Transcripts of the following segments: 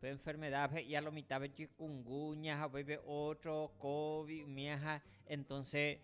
Pe enfermedad he'ia lo mitãve chikungunya ha upéipe otro covid umiaha entonces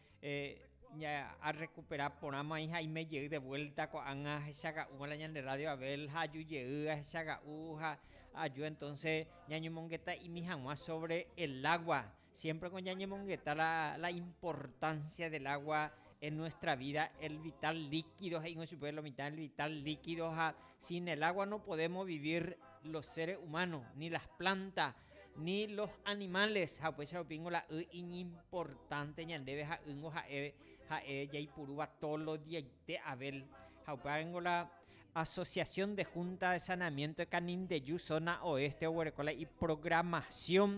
arrecupera porã mai ha aime jey de vuelta ko'ág̃a ahechaga'úva la ñande radio Abel ha aju jey ahechaga'u ha aju entonces ñañomongetaimi hag̃ua sobre el agua Siémpreko ñañemongeta la importansia del água en nuestra vida, el vital líquido he'ígui chupe, la mitad del vital líquido, ha sin el água no podemos vivir los seres humanos, ni las plantas, ni los animales, ha upéicha rupíngo la y iñimportánte ñandéve ha ýngo ha'e jaipurúva todos los diaite avél. Ha upévango la Asociación de Junta de Saneamiento de Canindeyú zona oeste oguereko la iprogramasiõ.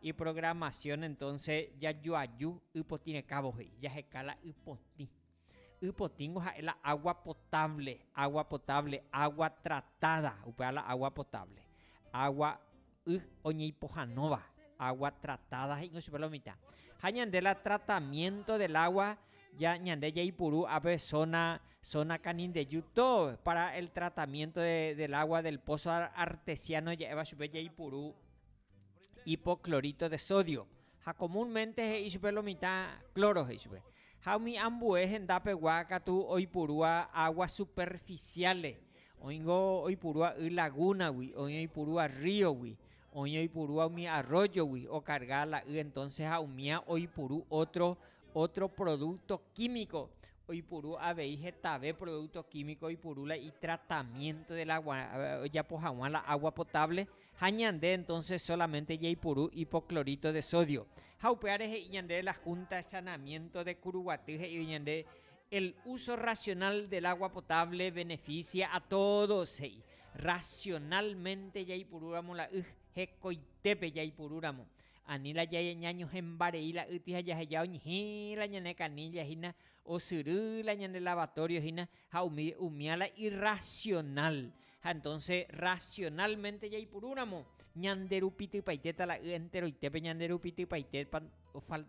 Iprogramasión entonce jajoaju ypotĩrekãvo he'i, jaheka la ypotĩ. Ypotĩngo ha'e la agua potable, agua potable, agua tratada, upéva la agua potable, agua y oñeipohãnóva, agua tratada he'ingo chupe la mitã. Ha ñande la tratamiento del agua ya ñande jaipuru ape zona, zona kanindeju tógui para el tratamiento del agua del pozo artesiano ja'éva chupe jaipuru hipoclorito de sodio, ha comúnmente he'i chupe lo mitã cloro he'i chupe, ha umi ambue henda pegua katu oipurúa aguas superficiales, oĩngo oipurúa y laguna gui, oĩ oipurúa río gui, oĩ oipurúa umi arroyo gui o carga la y entonces ha umía oipuru otro, otro producto químico oipuru avei hetave producto químico oipuru la y tratamiento del agua ojapo haguã la agua potable. Ha ñande entonces solamente jaipuru hipoclorito de sodio. Ha upévare he'i ñande la Junta de Saneamiento de Curuguaty he'ívo ñande el uso racional del agua potable beneficia a todos he'i. Racionalmente jaipurúramo la y, hekoitépe jaipurúramo. Ani la ñañohẽmbarei la y tĩ ha jaheja oñehẽ la ñane canilla hína, osyry la ñande lavatorio hína, Ha umi umía la irracional. Ha entonce racionalmente jaipurúramo, ñanderupitypaitéta la y enteroitépe ñanderupitypaitépa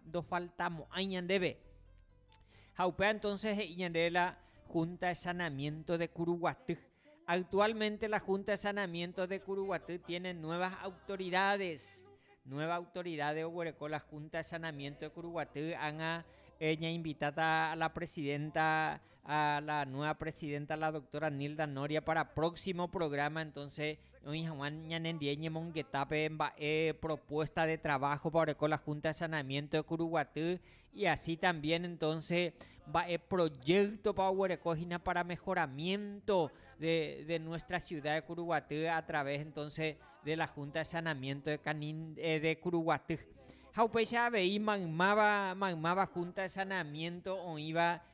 ndofaltamo'ãi ñandéve. Ha upéva entonce he'i ñandéve la Junta de Sanamiento de Curuguaty. Actualmente la Junta de Sanamiento de Curuguaty tiene nuevas autoridades. Nueva autoridad de Oguereco, la Junta de Sanamiento de Curuguaty, han a eh, ña invitata a la presidenta a la nueva presidenta la doctora Nilda Noria para próximo programa entonces oĩ hag̃ua ñanendie ñemongetápe mba'e propuesta de trabajopa oreko la Junta de Saneamiento de Curuguaty y así también entonces mba'e proyectopa oguereko hína para mejoramiento de, de nuestra ciudad de Curuguaty a través entonces de la Junta de Saneamiento de, Canin, eh, de Curuguaty. Ha upéicha avei maymáva, maymáva Junta de Saneamiento oĩva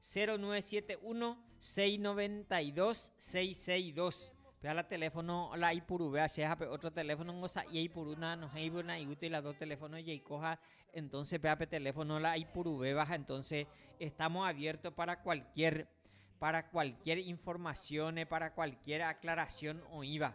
0971 692 662 Peha la teléfono la ipuruvea che ha pe otro teléfono ngo sa'ie ipurúna nohéivo na iútil la dos teléfono jeiko ha entonces peha pe teléfono la ipuruvéva ha entonces estamos abierto para cualquier para cualquier informaciones para cualquier aclaración oĩva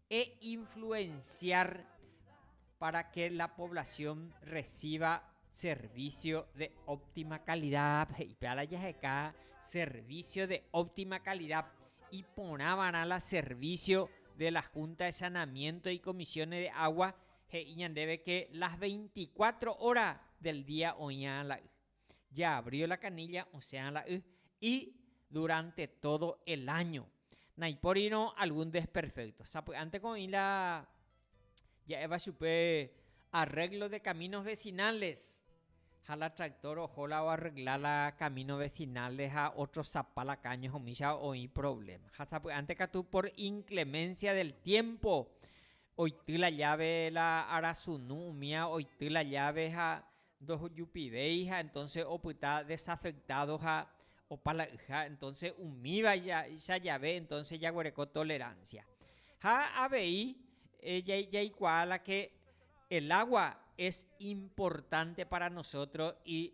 e influenciar para que la población reciba servicio de óptima calidad he'i pe ala jaheka servicio de óptima calidad iporã va'erã la servicio de la Junta de Sanamiento y Comisiones de Agua he'i ñandéve que las 24 horas del día oĩva la y. ya abrío la canilla osẽa la y, y durante todo el año. Naipórirõ algún desperfecto. Sapy'ánteko oĩ la ja'éva chupe arreglo de caminos vecinales, ha la tractor oho la oarregla la camino vecinales ha otrosapa la caño ha umícha oĩ problema. Ha sapy'ánte katu por inclemencia del tiempo oity la llave la arasunu umía oity la llave ha Ndojupivéi ha entonces opyta desafectado ha opalayha entonces umíva cha jave entonces jaguereko tolerancia. Ha avei jaikuaa la que el agua es importante para nosotros y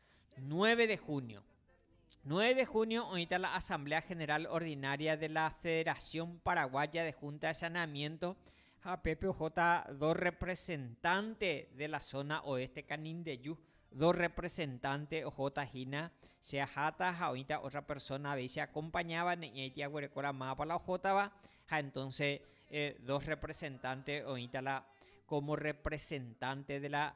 Nueve de junio. Nueve de junio oĩta la Asamblea General Ordinaria de la Federación Paraguaya de Junta de Saneamiento ha pépe ohóta dos representante de la zona oeste Canindeyu, dos representante ohóta hína che aháta ha oĩta otra persona avei che acompañáva ne'ñaiti aguerekóra mávapa la ohótava ha entonce dos representante oĩta la como representante de la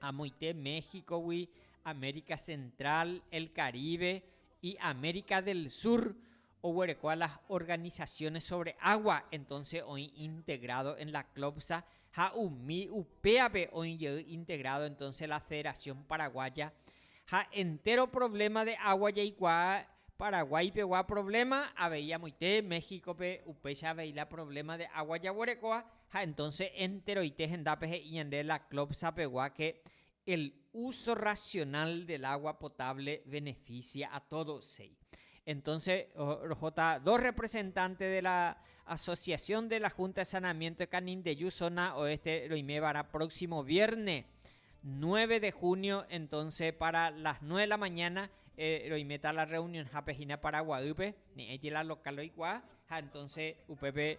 amoite México-gui, América Central, el Caribe y América del Sur oguereko a las organizaciones sobre agua, entonces oĩ integrado en la CLOPSA ha umi upéape oĩ jey integrado entonces la Federación Paraguaya ha entéro problema de agua jaikuaa Paraguay pegua problema avei amoite México-pe upéicha avei la problema de agua jaguerekóva. Ha entonce enteroite hendápe he'i ñande la Clopsa pegua que el uso racional del agua potable beneficia a todos he'i. Entonce rohóta dos representante de la asociación de la Junta de Sanamiento de Canindeyu zona oeste roimevara próximo vierne 9 de junio entonce para las 9 de la mañana roimeta la reunionhápe hína Paraguaýpe, ne'ãiti la local oikuaa ha entonce upépe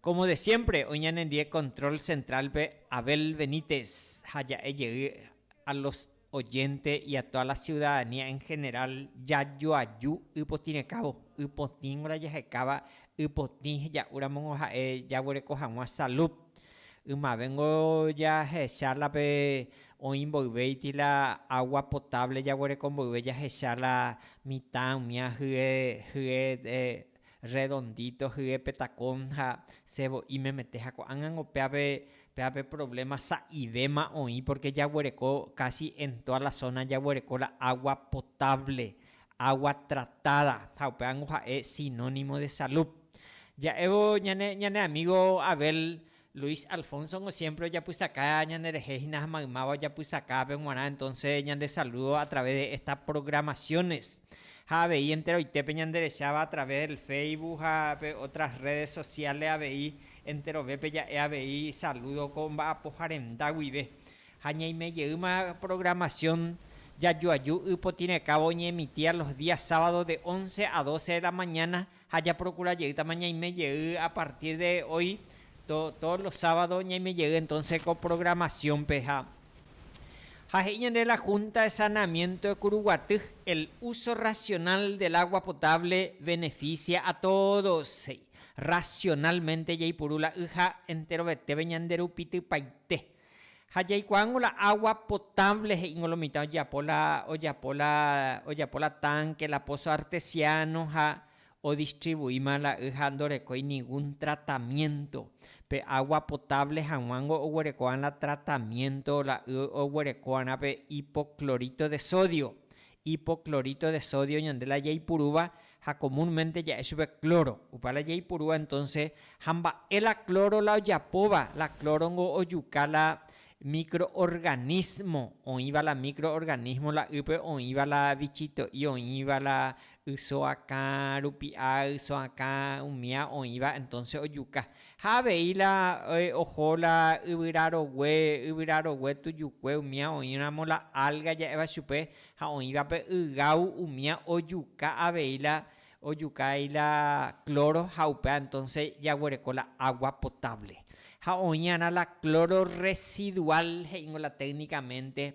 Como de siempre, oĩ ñanendie control central-pe Abel Benítez ha ja'e jey a los oyente y a toda la ciudadanía en general jajoaju ypotĩrekávo, ypotĩngo la jahekáva ypotĩ heja'u ramóngo ha'e jaguereko hag̃ua salud, ymavéngo jahecha la pe oĩ mboyve ity la agua potable jaguereko mboyve jahecha la mitã umía hye hye Redondito hye pe tacón ha se vo'i memete ha ko'ág̃ango péa pe péa pe problema sa'ivéma oĩ porque jaguereko casi en toda la zona jaguereko la agua potable agua tratada ha upévango ha'e sinónimo de salud ja'évo ñane ñane amigo Abel Luis Alfonso-ngo siémpre ojapysaka ñanderehe hína ha maymáva ojapysakápe g̃uarã entónse ñande salúdo a través de estas programaciones. Ha avei enteroitépe ñanderecháva a través del Facebook ha pe otras redes sociales avei enterovépe ja'e avei salúdo ko mba'apoha renda guive. Ha ñaime jeýma programación jajoaju y potĩrekávo oñeemitíva los días sábados de once a doce de la mañana, Ha japrokura jeýtama ñaime jey a partir de hoy, todos los sábados ñaime jey entonces ko programación-pe. Ha ha he'i ñande la Junta de Saneamiento de Curuguaty, el uso racional del agua potable beneficia a todos, he'i. Racionalmente jaipuru la y ha enterovetépe ñande rupitypaite. Ha jaikuaángo la agua potable he'íngo lo mitã ojeapo la ojapo la ojapo la tanque, la pozo artesiano ha odistribuíma la y ha ndorekói ningún tratamiento. Pe agua potable haguángo oguereko'ã la tratamiento la y oguereko'arã pe hipoclorito de sodio, Hipoclorito de sodio ñande la jaipurúva ha comúnmente ja'e chupe cloro, opa la jaipurúva entonce ha mba'e la cloro la ojapóva, la cloro nko ojuka la microorganismo oĩva la microorganismo la ýpe oĩva la vichito'i oĩva la yso akã rupi'a yso akã umía oĩva entonce ojuka Ha avei la oho la yvyra rogue, yvyra rogue tujukue umía oĩramo la alga ja'éva chupe, ha oĩvape ygau umía ojuka avei la ojuka avei la cloro ha upéva entonce jaguereko la agua potable. Ha oĩarã la cloro residual he'íngo la técnicamente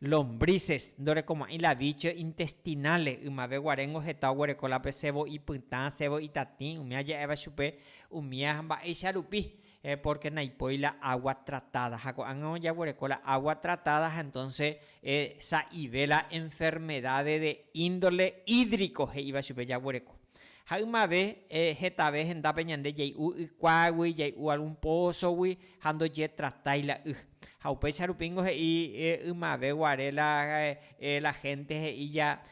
Lombrices, ndorekoma'ỹ la dicho intestinales, ymave guaréngo heta oguereko la pe sebo ipytã, sebo itatĩ, umi aja'éva chupe umi ha mba'éicha rupi, pórke naipói la água tratáda. Ha ko'ág̃a ojaguereko la água tratáda ha entónse sa'ive la enfermedáde de índole hídrico he'íva chupe jaguereko. Ha ymave hetave hendápe ñande jay'u ykuágui, jay'u algún pózogui ha ndojetratái la y. Ha upéicha rupi ningo he'i ymave guare la la hénte he'i ja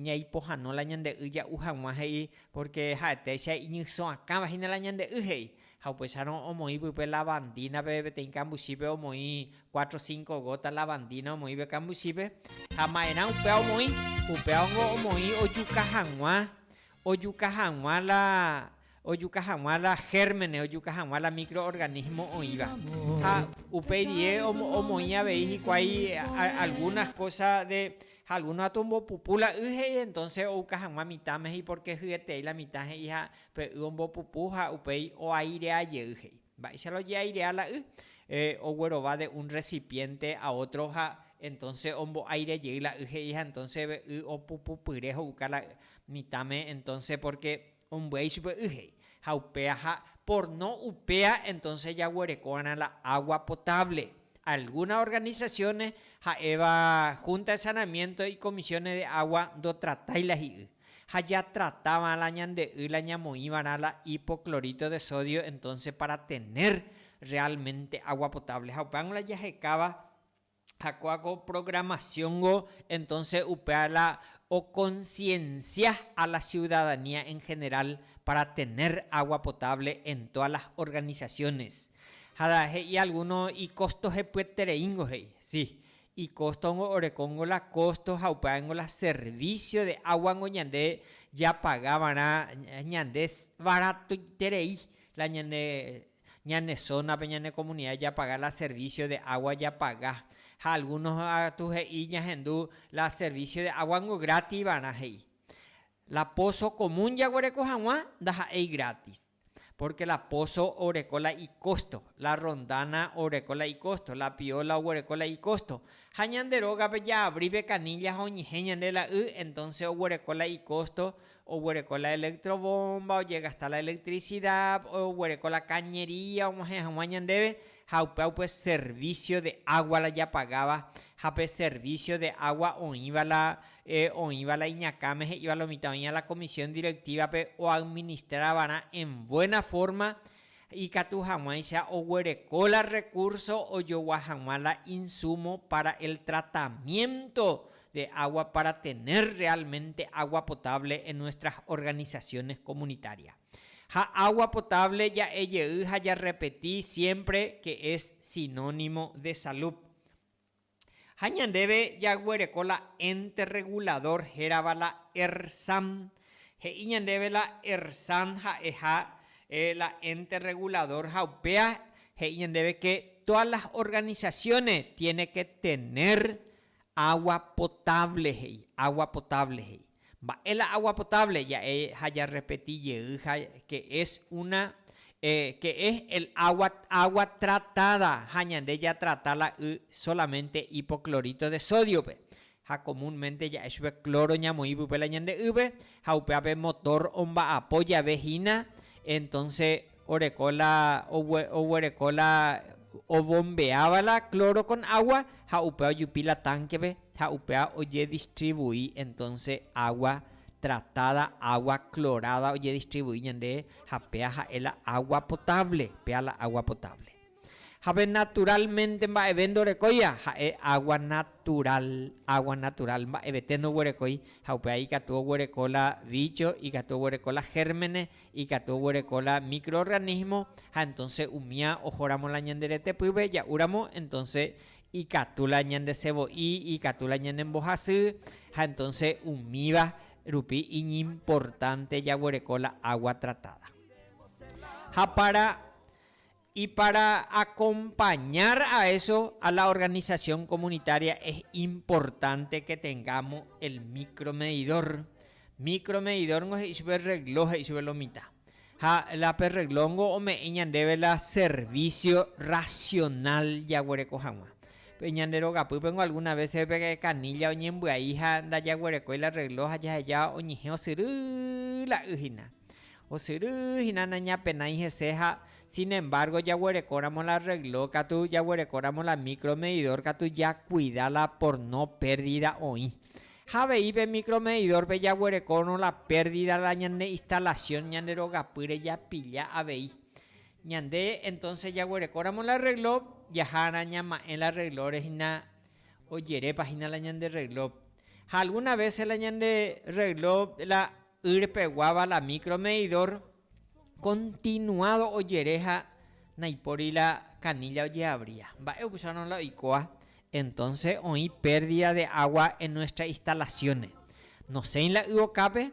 ñaipohãno la ñande y ja'u hag̃ua he'i, pórke ha'etéicha iñysõakãva hína la ñande y he'i. Ha upéicharõ omoĩ pype lavandínape peteĩ kambuchípe omoĩ cuatro cinco gota lavandína omoĩve kambuchípe, ha ma'erã upéva omoĩ, upéva ningo omoĩ ojuka hag̃ua, ojuka hag̃ua la, ojuka hag̃ua la gérmenes, ojuka hag̃ua la microorganismo oĩva. Ha upeirie omoĩ avei hikuái algunas cosas de, ha algunos atombopupu la y he'i, entonces ouka hag̃ua mitãme he'i porque hyetei la mitã he'i ha Pe y ombopupu ha upéi oairea jey he'i. Mba'éicha la ojeairea la y? Oguerova de un recipiente a otro ha entonce ombo'aire jey la y he'i ha entonce pe y opupupyre ho'uka la y mitãme entonce porque ombyai chupe y he'i. Ha upéa ha por no upéa entonce jaguerekóva'erã la agua potable. Algunas organizaciones ha'éva Junta de Saneamiento y Comisiones de Agua ndotratai la hi'y. ha jatratavã la ñande y la ñamoĩva'erã la hipoclorito de sodio entonces para tener realmente agua potable ha upévango la jahekáva ha kóa ko programación-go entonces upéva la oconciencia a la ciudadanía en general para tener agua potable en todas las organizaciones ha he'i alguno icostojepyetereíngo he'i si Ikóstongo orekóngo la kósto ha upévango la servísio de águango ñande japaga va'erã ñande varatoiterei la ñane ñane zónape, ñane komunida japaga la servísio de água japaga. Ha algúno katu he'i ñahendu la servísio de águango grátis va'erã he'i. La pózo komún jaguereko hag̃ua ndaha'éi grátis. Pórke la póso oreko la ikósto, la rondána oreko la ikósto, la pióla oguereko la ikósto. Ha ñande rógape jaavri pe kanílla ha oñehẽ ñande la y, entónse oguereko la ikósto, oguereko la elektrovómba, ojegasta la elektrisidád, oguereko la kañería og̃uahẽ hag̃ua ñandéve, ha upéva upe servicio de agua la japagáva ha pe servicio de agua oĩva la oĩva la iñakãme he'íva la mitã oĩva la comisión directiva-pe oadministra va'erã en buena forma ikatu hag̃uáicha oguereko la recurso ojogua hag̃ua la insumo para el tratamiento de agua para tener realmente agua potable en nuestras organizaciones comunitarias. Ha agua potable ja'e jey ha jarrepeti siempre que es sinónimo de salud. Ha ñandéve jaguereko la ente regulador hérava la ERSAM. He'i ñandéve la ERSAM ha'eha la ente regulador ha upéa he'i ñandéve que todas las organizaciones tiene que tener agua potable he'i, agua potable he'i. Mba'e la agua potable ja'e ha ja repeti jey ha que es una que es el agua agua tratada ha ñande ja trata la y solamente hipoclorito de sodio pe ha comun mente ja'e chupe cloro ñamoí pype la ñande ýpe ha upéape motor omba'apo jave hína entonces oreko la oguereko la ovombeáva la cloro con agua ha upéva ojupi la tanque-pe ha upéva ojedistribui entonce agua tratada, agua clorada ojedistribui ñande ha péva ha'e la agua potable, péva la agua potable. Ha pe naturalmente mba'eve ndorekóiva ha'e agua natural, agua natural mba'evete ndoguerekói ha upéva ikatu oguereko la bicho, ikatu oguereko la gérmenes Ikatu oguereko la microorganismo ha entonce umía oho ramo la ñande rete pýpe ja'u ramo entonce ikatu la ñande sevo'i ikatu la ñande mbohasy ha entonce umíva rupi iñimportante jaguereko la agua tratada ha para Y para acompañar a eso a la organización comunitaria es importante que tengamos el micromedidor. Micromedidor ngo he'i chupe reloj he'i chupe lo mitad. Ha la pe reloj ngo ome'ẽ ñandéve la servicio racional jaguereko hag̃ua. Pe ñande rogapýpe ngo alguna vece pe canilla oñembyai ha ndajaguerekói la reloj ha jaheja oñehẽ osyry la y hina. Osyry hína nañapenái hese ha, sin embargo, jaguerekóramo la rregló katu, jaguerekóramo la micromedidor katu jakuida la por no pérdida oĩ. Ha avei pe micromedidor-pe jaguerekórõ la pérdida la ñane instalación ñande rogapýre japilla avei. Ñande entonces jaguerekóramo la rregló, jahárã ñama'ẽ la rreglóre hína ojerépa hína la ñande rregló. Ha algunas veces la ñande rregló la Yr peguáva la micro medidor continuado ojere ha naipóri la canilla ojeabría. Mba'e opusárõ la oikóa? Entonce oĩ pérdida de agua en nuestra instalaciones. Nosẽi la y okápe,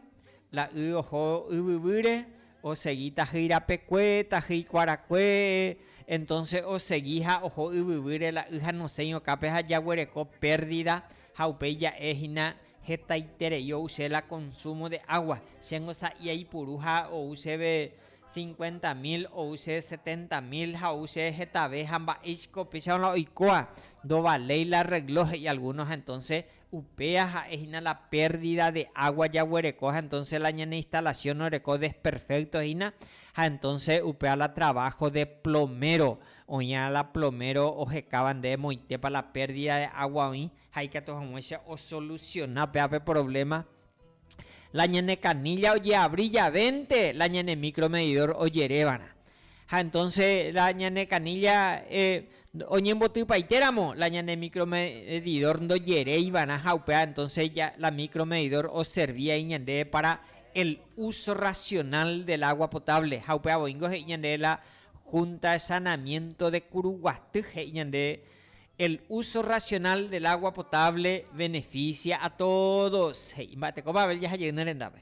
la y oho yvyvýre, osegi tahýi rapekue, tahýi kuarakue, entonce osegi ha oho yvyvýre la y ha nosẽi okápe ha jaguereko pérdida ha upéi ja'e hína Hetaiterei ou che la consumo de agua, chéngo sa'i aipuru ha ou chéve cincuenta mil, ou che setenta mil ha ou che hetave ha mba'éicha ko upéicharõ la oikóa, ndovaléi la arreglo, he'i alguno ha entonce upéa ha'e hína la pérdida de agua jaguereko ha entonce la ñane instalación oreko desperfecto hína ha entonce upéva la trabajo de plomero oĩva la plomero ohekáva ndéve moitépa la pérdida de agua oĩ Ha ikatu hag̃uáicha osolusiona upéva pe provléma, la ñane kanílla ojeavri javénte la ñane mikromedidór ojerévag̃a. Ha entónse la ñane kanílla oñembotypaitéramo, la ñane mikromedidór ndojereiva'erã ha upéva entónse la mikromedidór oservi ai ñandéve pára el úso rasionál del água potable. Ha upéva voíngo he'i ñandéve la Húnta de Sanamiénto de Kuruguaty he'i ñandéve El uso racional del agua potable beneficia a todos, he'i mba'eteko Babel jaha jey ne rendápe.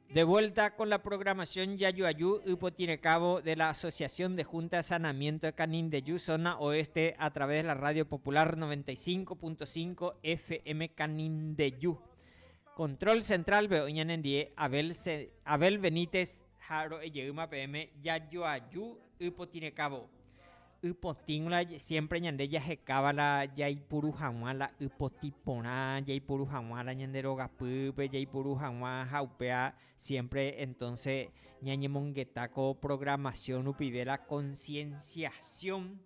De vuelta con la programación Jajuaju ypotirekávo de la Asociación de Junta de Saneamiento de Canindeju Zona Oeste a través de la Radio Popular 95.5 FM Canindeju. Control central pe oĩ ñanendie Abel Abel Benítez ha ro'ejeýma peẽme Jajuaju ypotirekávo. Y potĩ g̃uarã siémpre ñande jahekáva la jaipuru hag̃ua la y potĩ porã, jaipuru hag̃ua la ñande rogapýpe, jaipuru hag̃ua ha upéva siémpre entónse ñañemongeta ko programación rupive la concienciación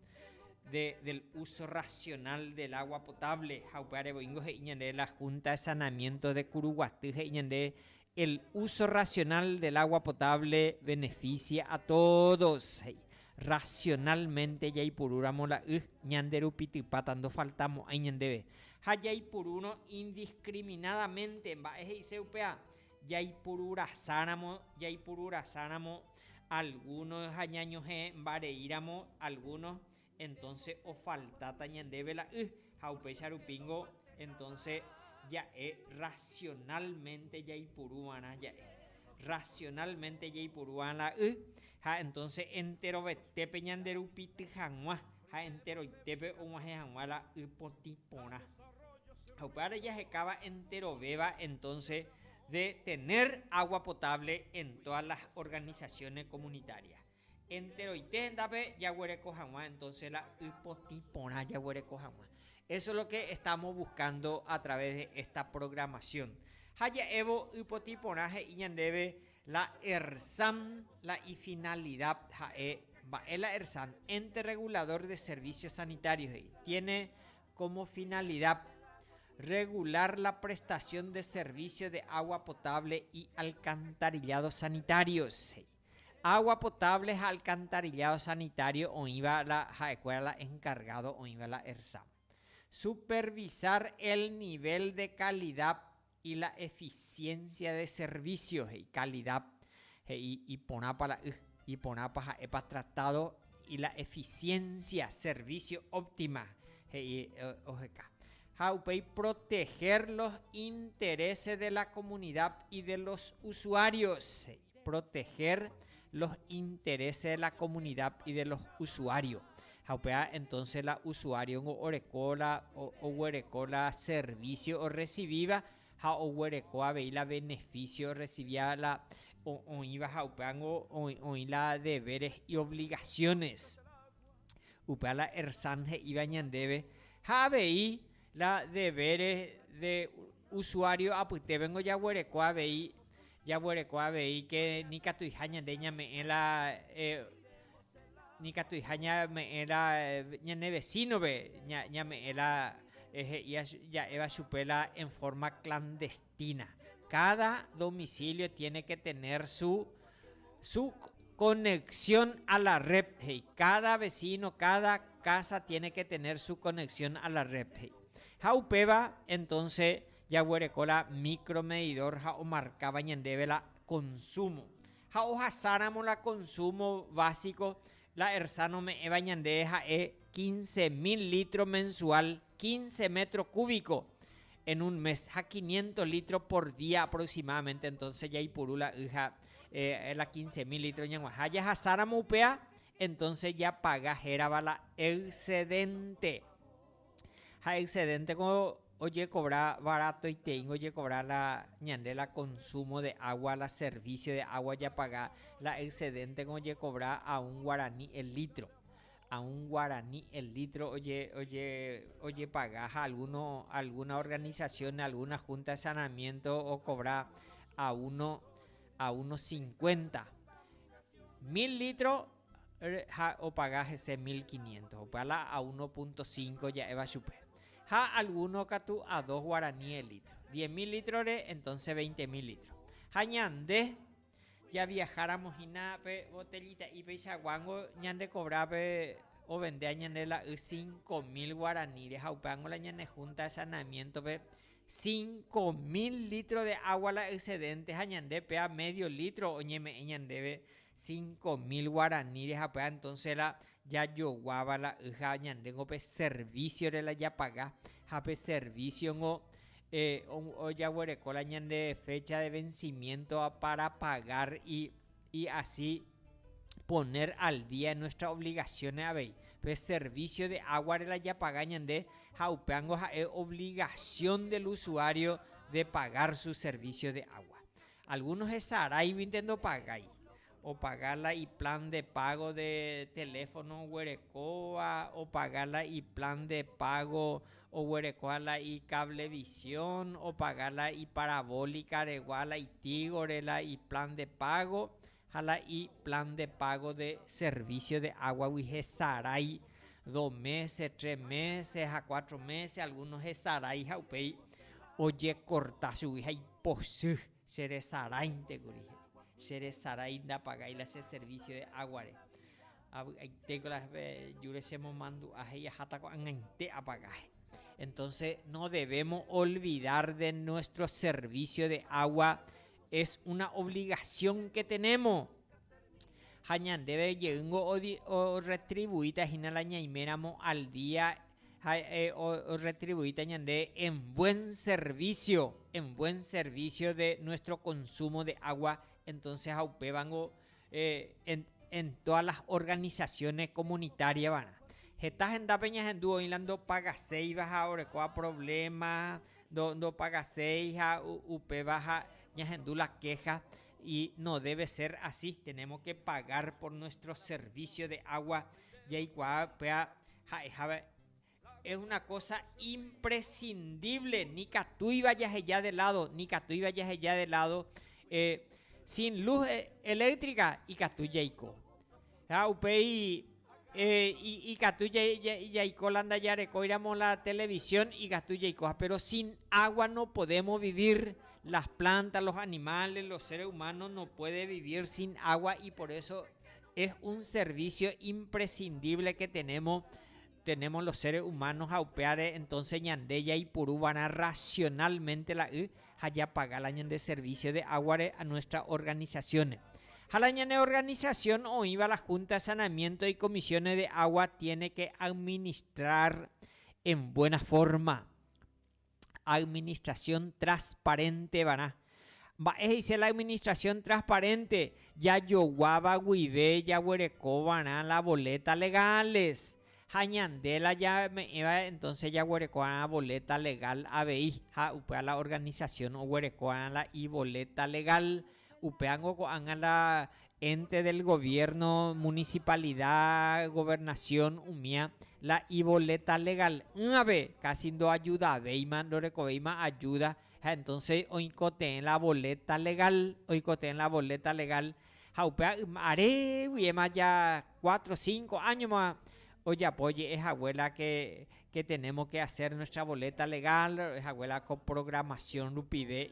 del uso racional del agua potable. Ha upéva revoíngo he'i ñande la Junta de Sanamiento de Kuruguaty he'i ñande El uso racional del agua potable beneficia a todos, he'i. Racionalmente jaipurúramo la y, ñande rupi typáta ndofaltamo'ãi ñandéve. Ha jaipurúrõ indiscriminadamente, mba'e he'ise upéva? Jaipururasáramo, jaipururasáramo algunos ha ñañohẽ mbareíramo algunos, Entonce ofaltáta ñandéve la y ha upéicha rupíngo entonce ja'e racionalmente jaipuru va'erã ja'e. Racionalmente jaipuru va'erã la y ha entonce enterovetépe ñanderupity hag̃ua ha enteroitépe og̃uahẽ hag̃ua la y potĩ porã. Ha upévare jahekáva enterovéva entonce de tener agua potable en todas las organizaciones comunitarias. Enteroite hendápe jaguereko hag̃ua, entonce la y potĩ porã jaguereko hag̃ua. Eso lo que estamos buscando a través de esta programación. Ha ja'évo y potĩ porã he'i ñandéve la ERSAM la y finalidad ha'e, mba'e la ERSAM? Ente Regulador de Servicios Sanitarios he'i, tiene como finalidad regular la prestación de servicio de agua potable y alcantarillado sanitarios he'i. Água potable ha alcantarillado sanitario oĩva la ha'ekuéra la encargado oĩva la Ersam. Supervisar el nivel de calidad y la eficiencia de servicio he'i calidad he'i iporãpa la y, iporãpa ha'épa tratado y la eficiencia servicio óptima he'i oheka. Ha upéi proteger los intereses de la comunidad y de los usuarios he'i. proteger los interés de la comunidad y de los usuario ha upéva entonces la usuario ningo oreko la oguereko la servicio orrecibiva ha oguereko avei la beneficio orrecibiva la oĩva ha upéva ningo oĩ la deberes y obligaciones upéva la ERSAN he'íva ñandéve ha avei la deberes de usuario apytépe ningo jaguereko avei Jaguereko avei ke nikatuiha ñande ñame'ẽ la nikatuiha ñame'ẽ la ñane vecino-pe ñame'ẽ la he'i ja'éva chupe la en forma clandestina. Cada domicilio tiene que tener su su conexión a la red he'i. Cada vecino, cada casa tiene que tener su conexión a la red he'i. Ha upéva entonce Jaguereko la micromedidor ha omarkáva ñandéve la consumo. Ha ohasáramo la consumo básico, la ERSA nome'ẽva ñandéve ha'e quince mil litro mensual, quince metro cúbico en un mes, ha quinientos litro por día aproximadamente. Entonces jaipuru la y ha la quince mil litro ñaguahã. Jahasáramo upéva, entonces japaga hérava la excedente. Ha excedente-ko ojekobra baratoiteíngo ojekobra la ñande la consumo de agua, la servicio de agua ojapaga, la excedente-ko ojekobra a un guarani el litro, a un guarani el litro ojepaga ha alguno, alguna organización, alguna junta de saneamiento okobra a uno, a uno cincuenta mil litro ha opaga hese mil quiniéntos, opa la a uno punto cinco ja'éva chupe, ha algúno katu a dos guarani el lítro. Diez mil lítrore, entónse veinte mil lítro. Ha ñande javiaháramo hína pe botellita'i peichaguángo ñandekovra pe ovendéva ñande la y cinco mil guaraníre, ha upévango la ñanehúnta sanamiéntope cinco mil lítro de água la excedénte ha ñande péva médio lítro oñeme'ẽ ñandéve Cinco mil guarani rehapy'a entonce la jajoguáva la y ha ñandéngo pe servicio-re la japaga ha pe servicio-ngo ojaguereko la ñande fecha de vencimiento-va para pagar y asi poner al día en nuestras obligaciones avei. Pe servicio de agua-re la japaga ñande ha upévango ha'e obligación del usuario de pagar su servicio de agua. Alguno hesaráivinte ndopagái. Opaga la iplan de págo de teléfono oguerekóva, opaga la iplan de págo oguerekóva la icablevisión, opaga la iparabólicaregua, la itígore la iplan de págo. ha la y plan de pago de servicio de aguagui hesarái dos meses, tres meses ha cuatro meses, alguno hesarái ha upéi ojekorta chugui ha iposy, cheresaráinte kuri he'i, cheresarái ndapagái la che servicio de aguare. Ha vy'aitéko la jure chemomandu'a he'i aháta ko'ag̃aite apaga he'i. Entonce no debemos olvidar de nuestro servicio de agua Es una obligación que tenemos. Ha ñandéve jeýngo orretribuíta hína la ñaiméramo al día ha orretribuíta ñande en buen servicio, en buen servicio de nuestro consumo de agua, entonces ha upévango eh, en, en todas las organizaciones comunitarias, ¿verdad? Heta hendápe ñahendu oĩ la ndopagaseiva ha orekóva problema Ndopagaséi ha upéva ha ñahendu la kéha, no déve sér asi, tenémos ke pagar por nuestro servísio de água, jaikuaa py'a ha'ehápe es una kósa impresindívle, nikatúiva jaheja de ládo, nikatúiva jaheja de ládo, sin luz eléktrika ikatu jaiko. Ha upéi ikatu jaiko la ndajarekóiramo la televisión ikatu jaikoha, péro sin água nopodémo vivir, las plantas, los animales, los seres humanos no pueden vivir sin agua y por eso es un servicio imprescindible que tenemos. Tenemos los seres humanos ha upévare entonces ñande jaipuru va'erã racionalmente la y ha japaga la ñande servicio de aguare a nuestras organizaciones. Ha la ñane organización oĩva la Junta de Saneamiento y Comisiones de Agua tiene que administrar en buena forma. administrasión trasparéntevarã. Mba'e he'ise la administrasión trasparénte? Jajoguáva guive jaguerekova'erã la voléta legáles. Ha ñande la jame'ẽva entónse jaguerekova'erã voléta legál avei, ha upéva la organisasión oguerekova'erã la ivoléta legál. Upévango ko'ág̃a la ente del goviérno, munisipalida, governasión umía la ivoleta legal'ỹvape kási ndoajudavéima, ndorekovéima ajúda. Ha entónse oikotevẽ la voleta legál, oikotevẽ la voleta legál. Ha upéva yma aréguiema ja kuátro, sínko áñoma ojapo oje'e hague la ke, ke tenémo ke hasér nuestra voleta legál, oje'e hague la ko programasión rupive.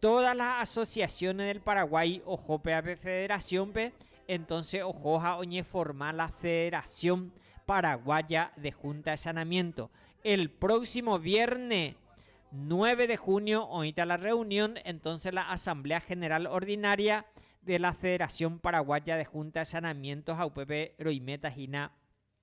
Todas las asociaciones del Paraguay ojo péva pe federación-pe, entonces ojo ha oñeforma la Federación Paraguaya de Junta de Sanamiento. El próximo vierne 9 de junio oĩta la reunión, entonces la Asamblea General Ordinaria de la Federación Paraguaya de Junta de Sanamiento ha upépe roiméta hína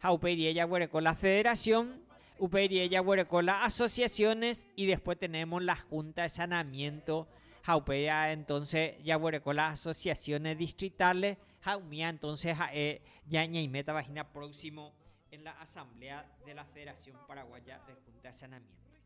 Ha upéi rie jaguereko la federación, upéi rie jaguereko la asociaciones y después tenemos la junta de saneamiento ha upéi a entonce jaguereko la asociaciones distritales ha umía entonce ha'e ña ñaimétava hína próximo en la asamblea de la federación paraguaya de junta de saneamiento.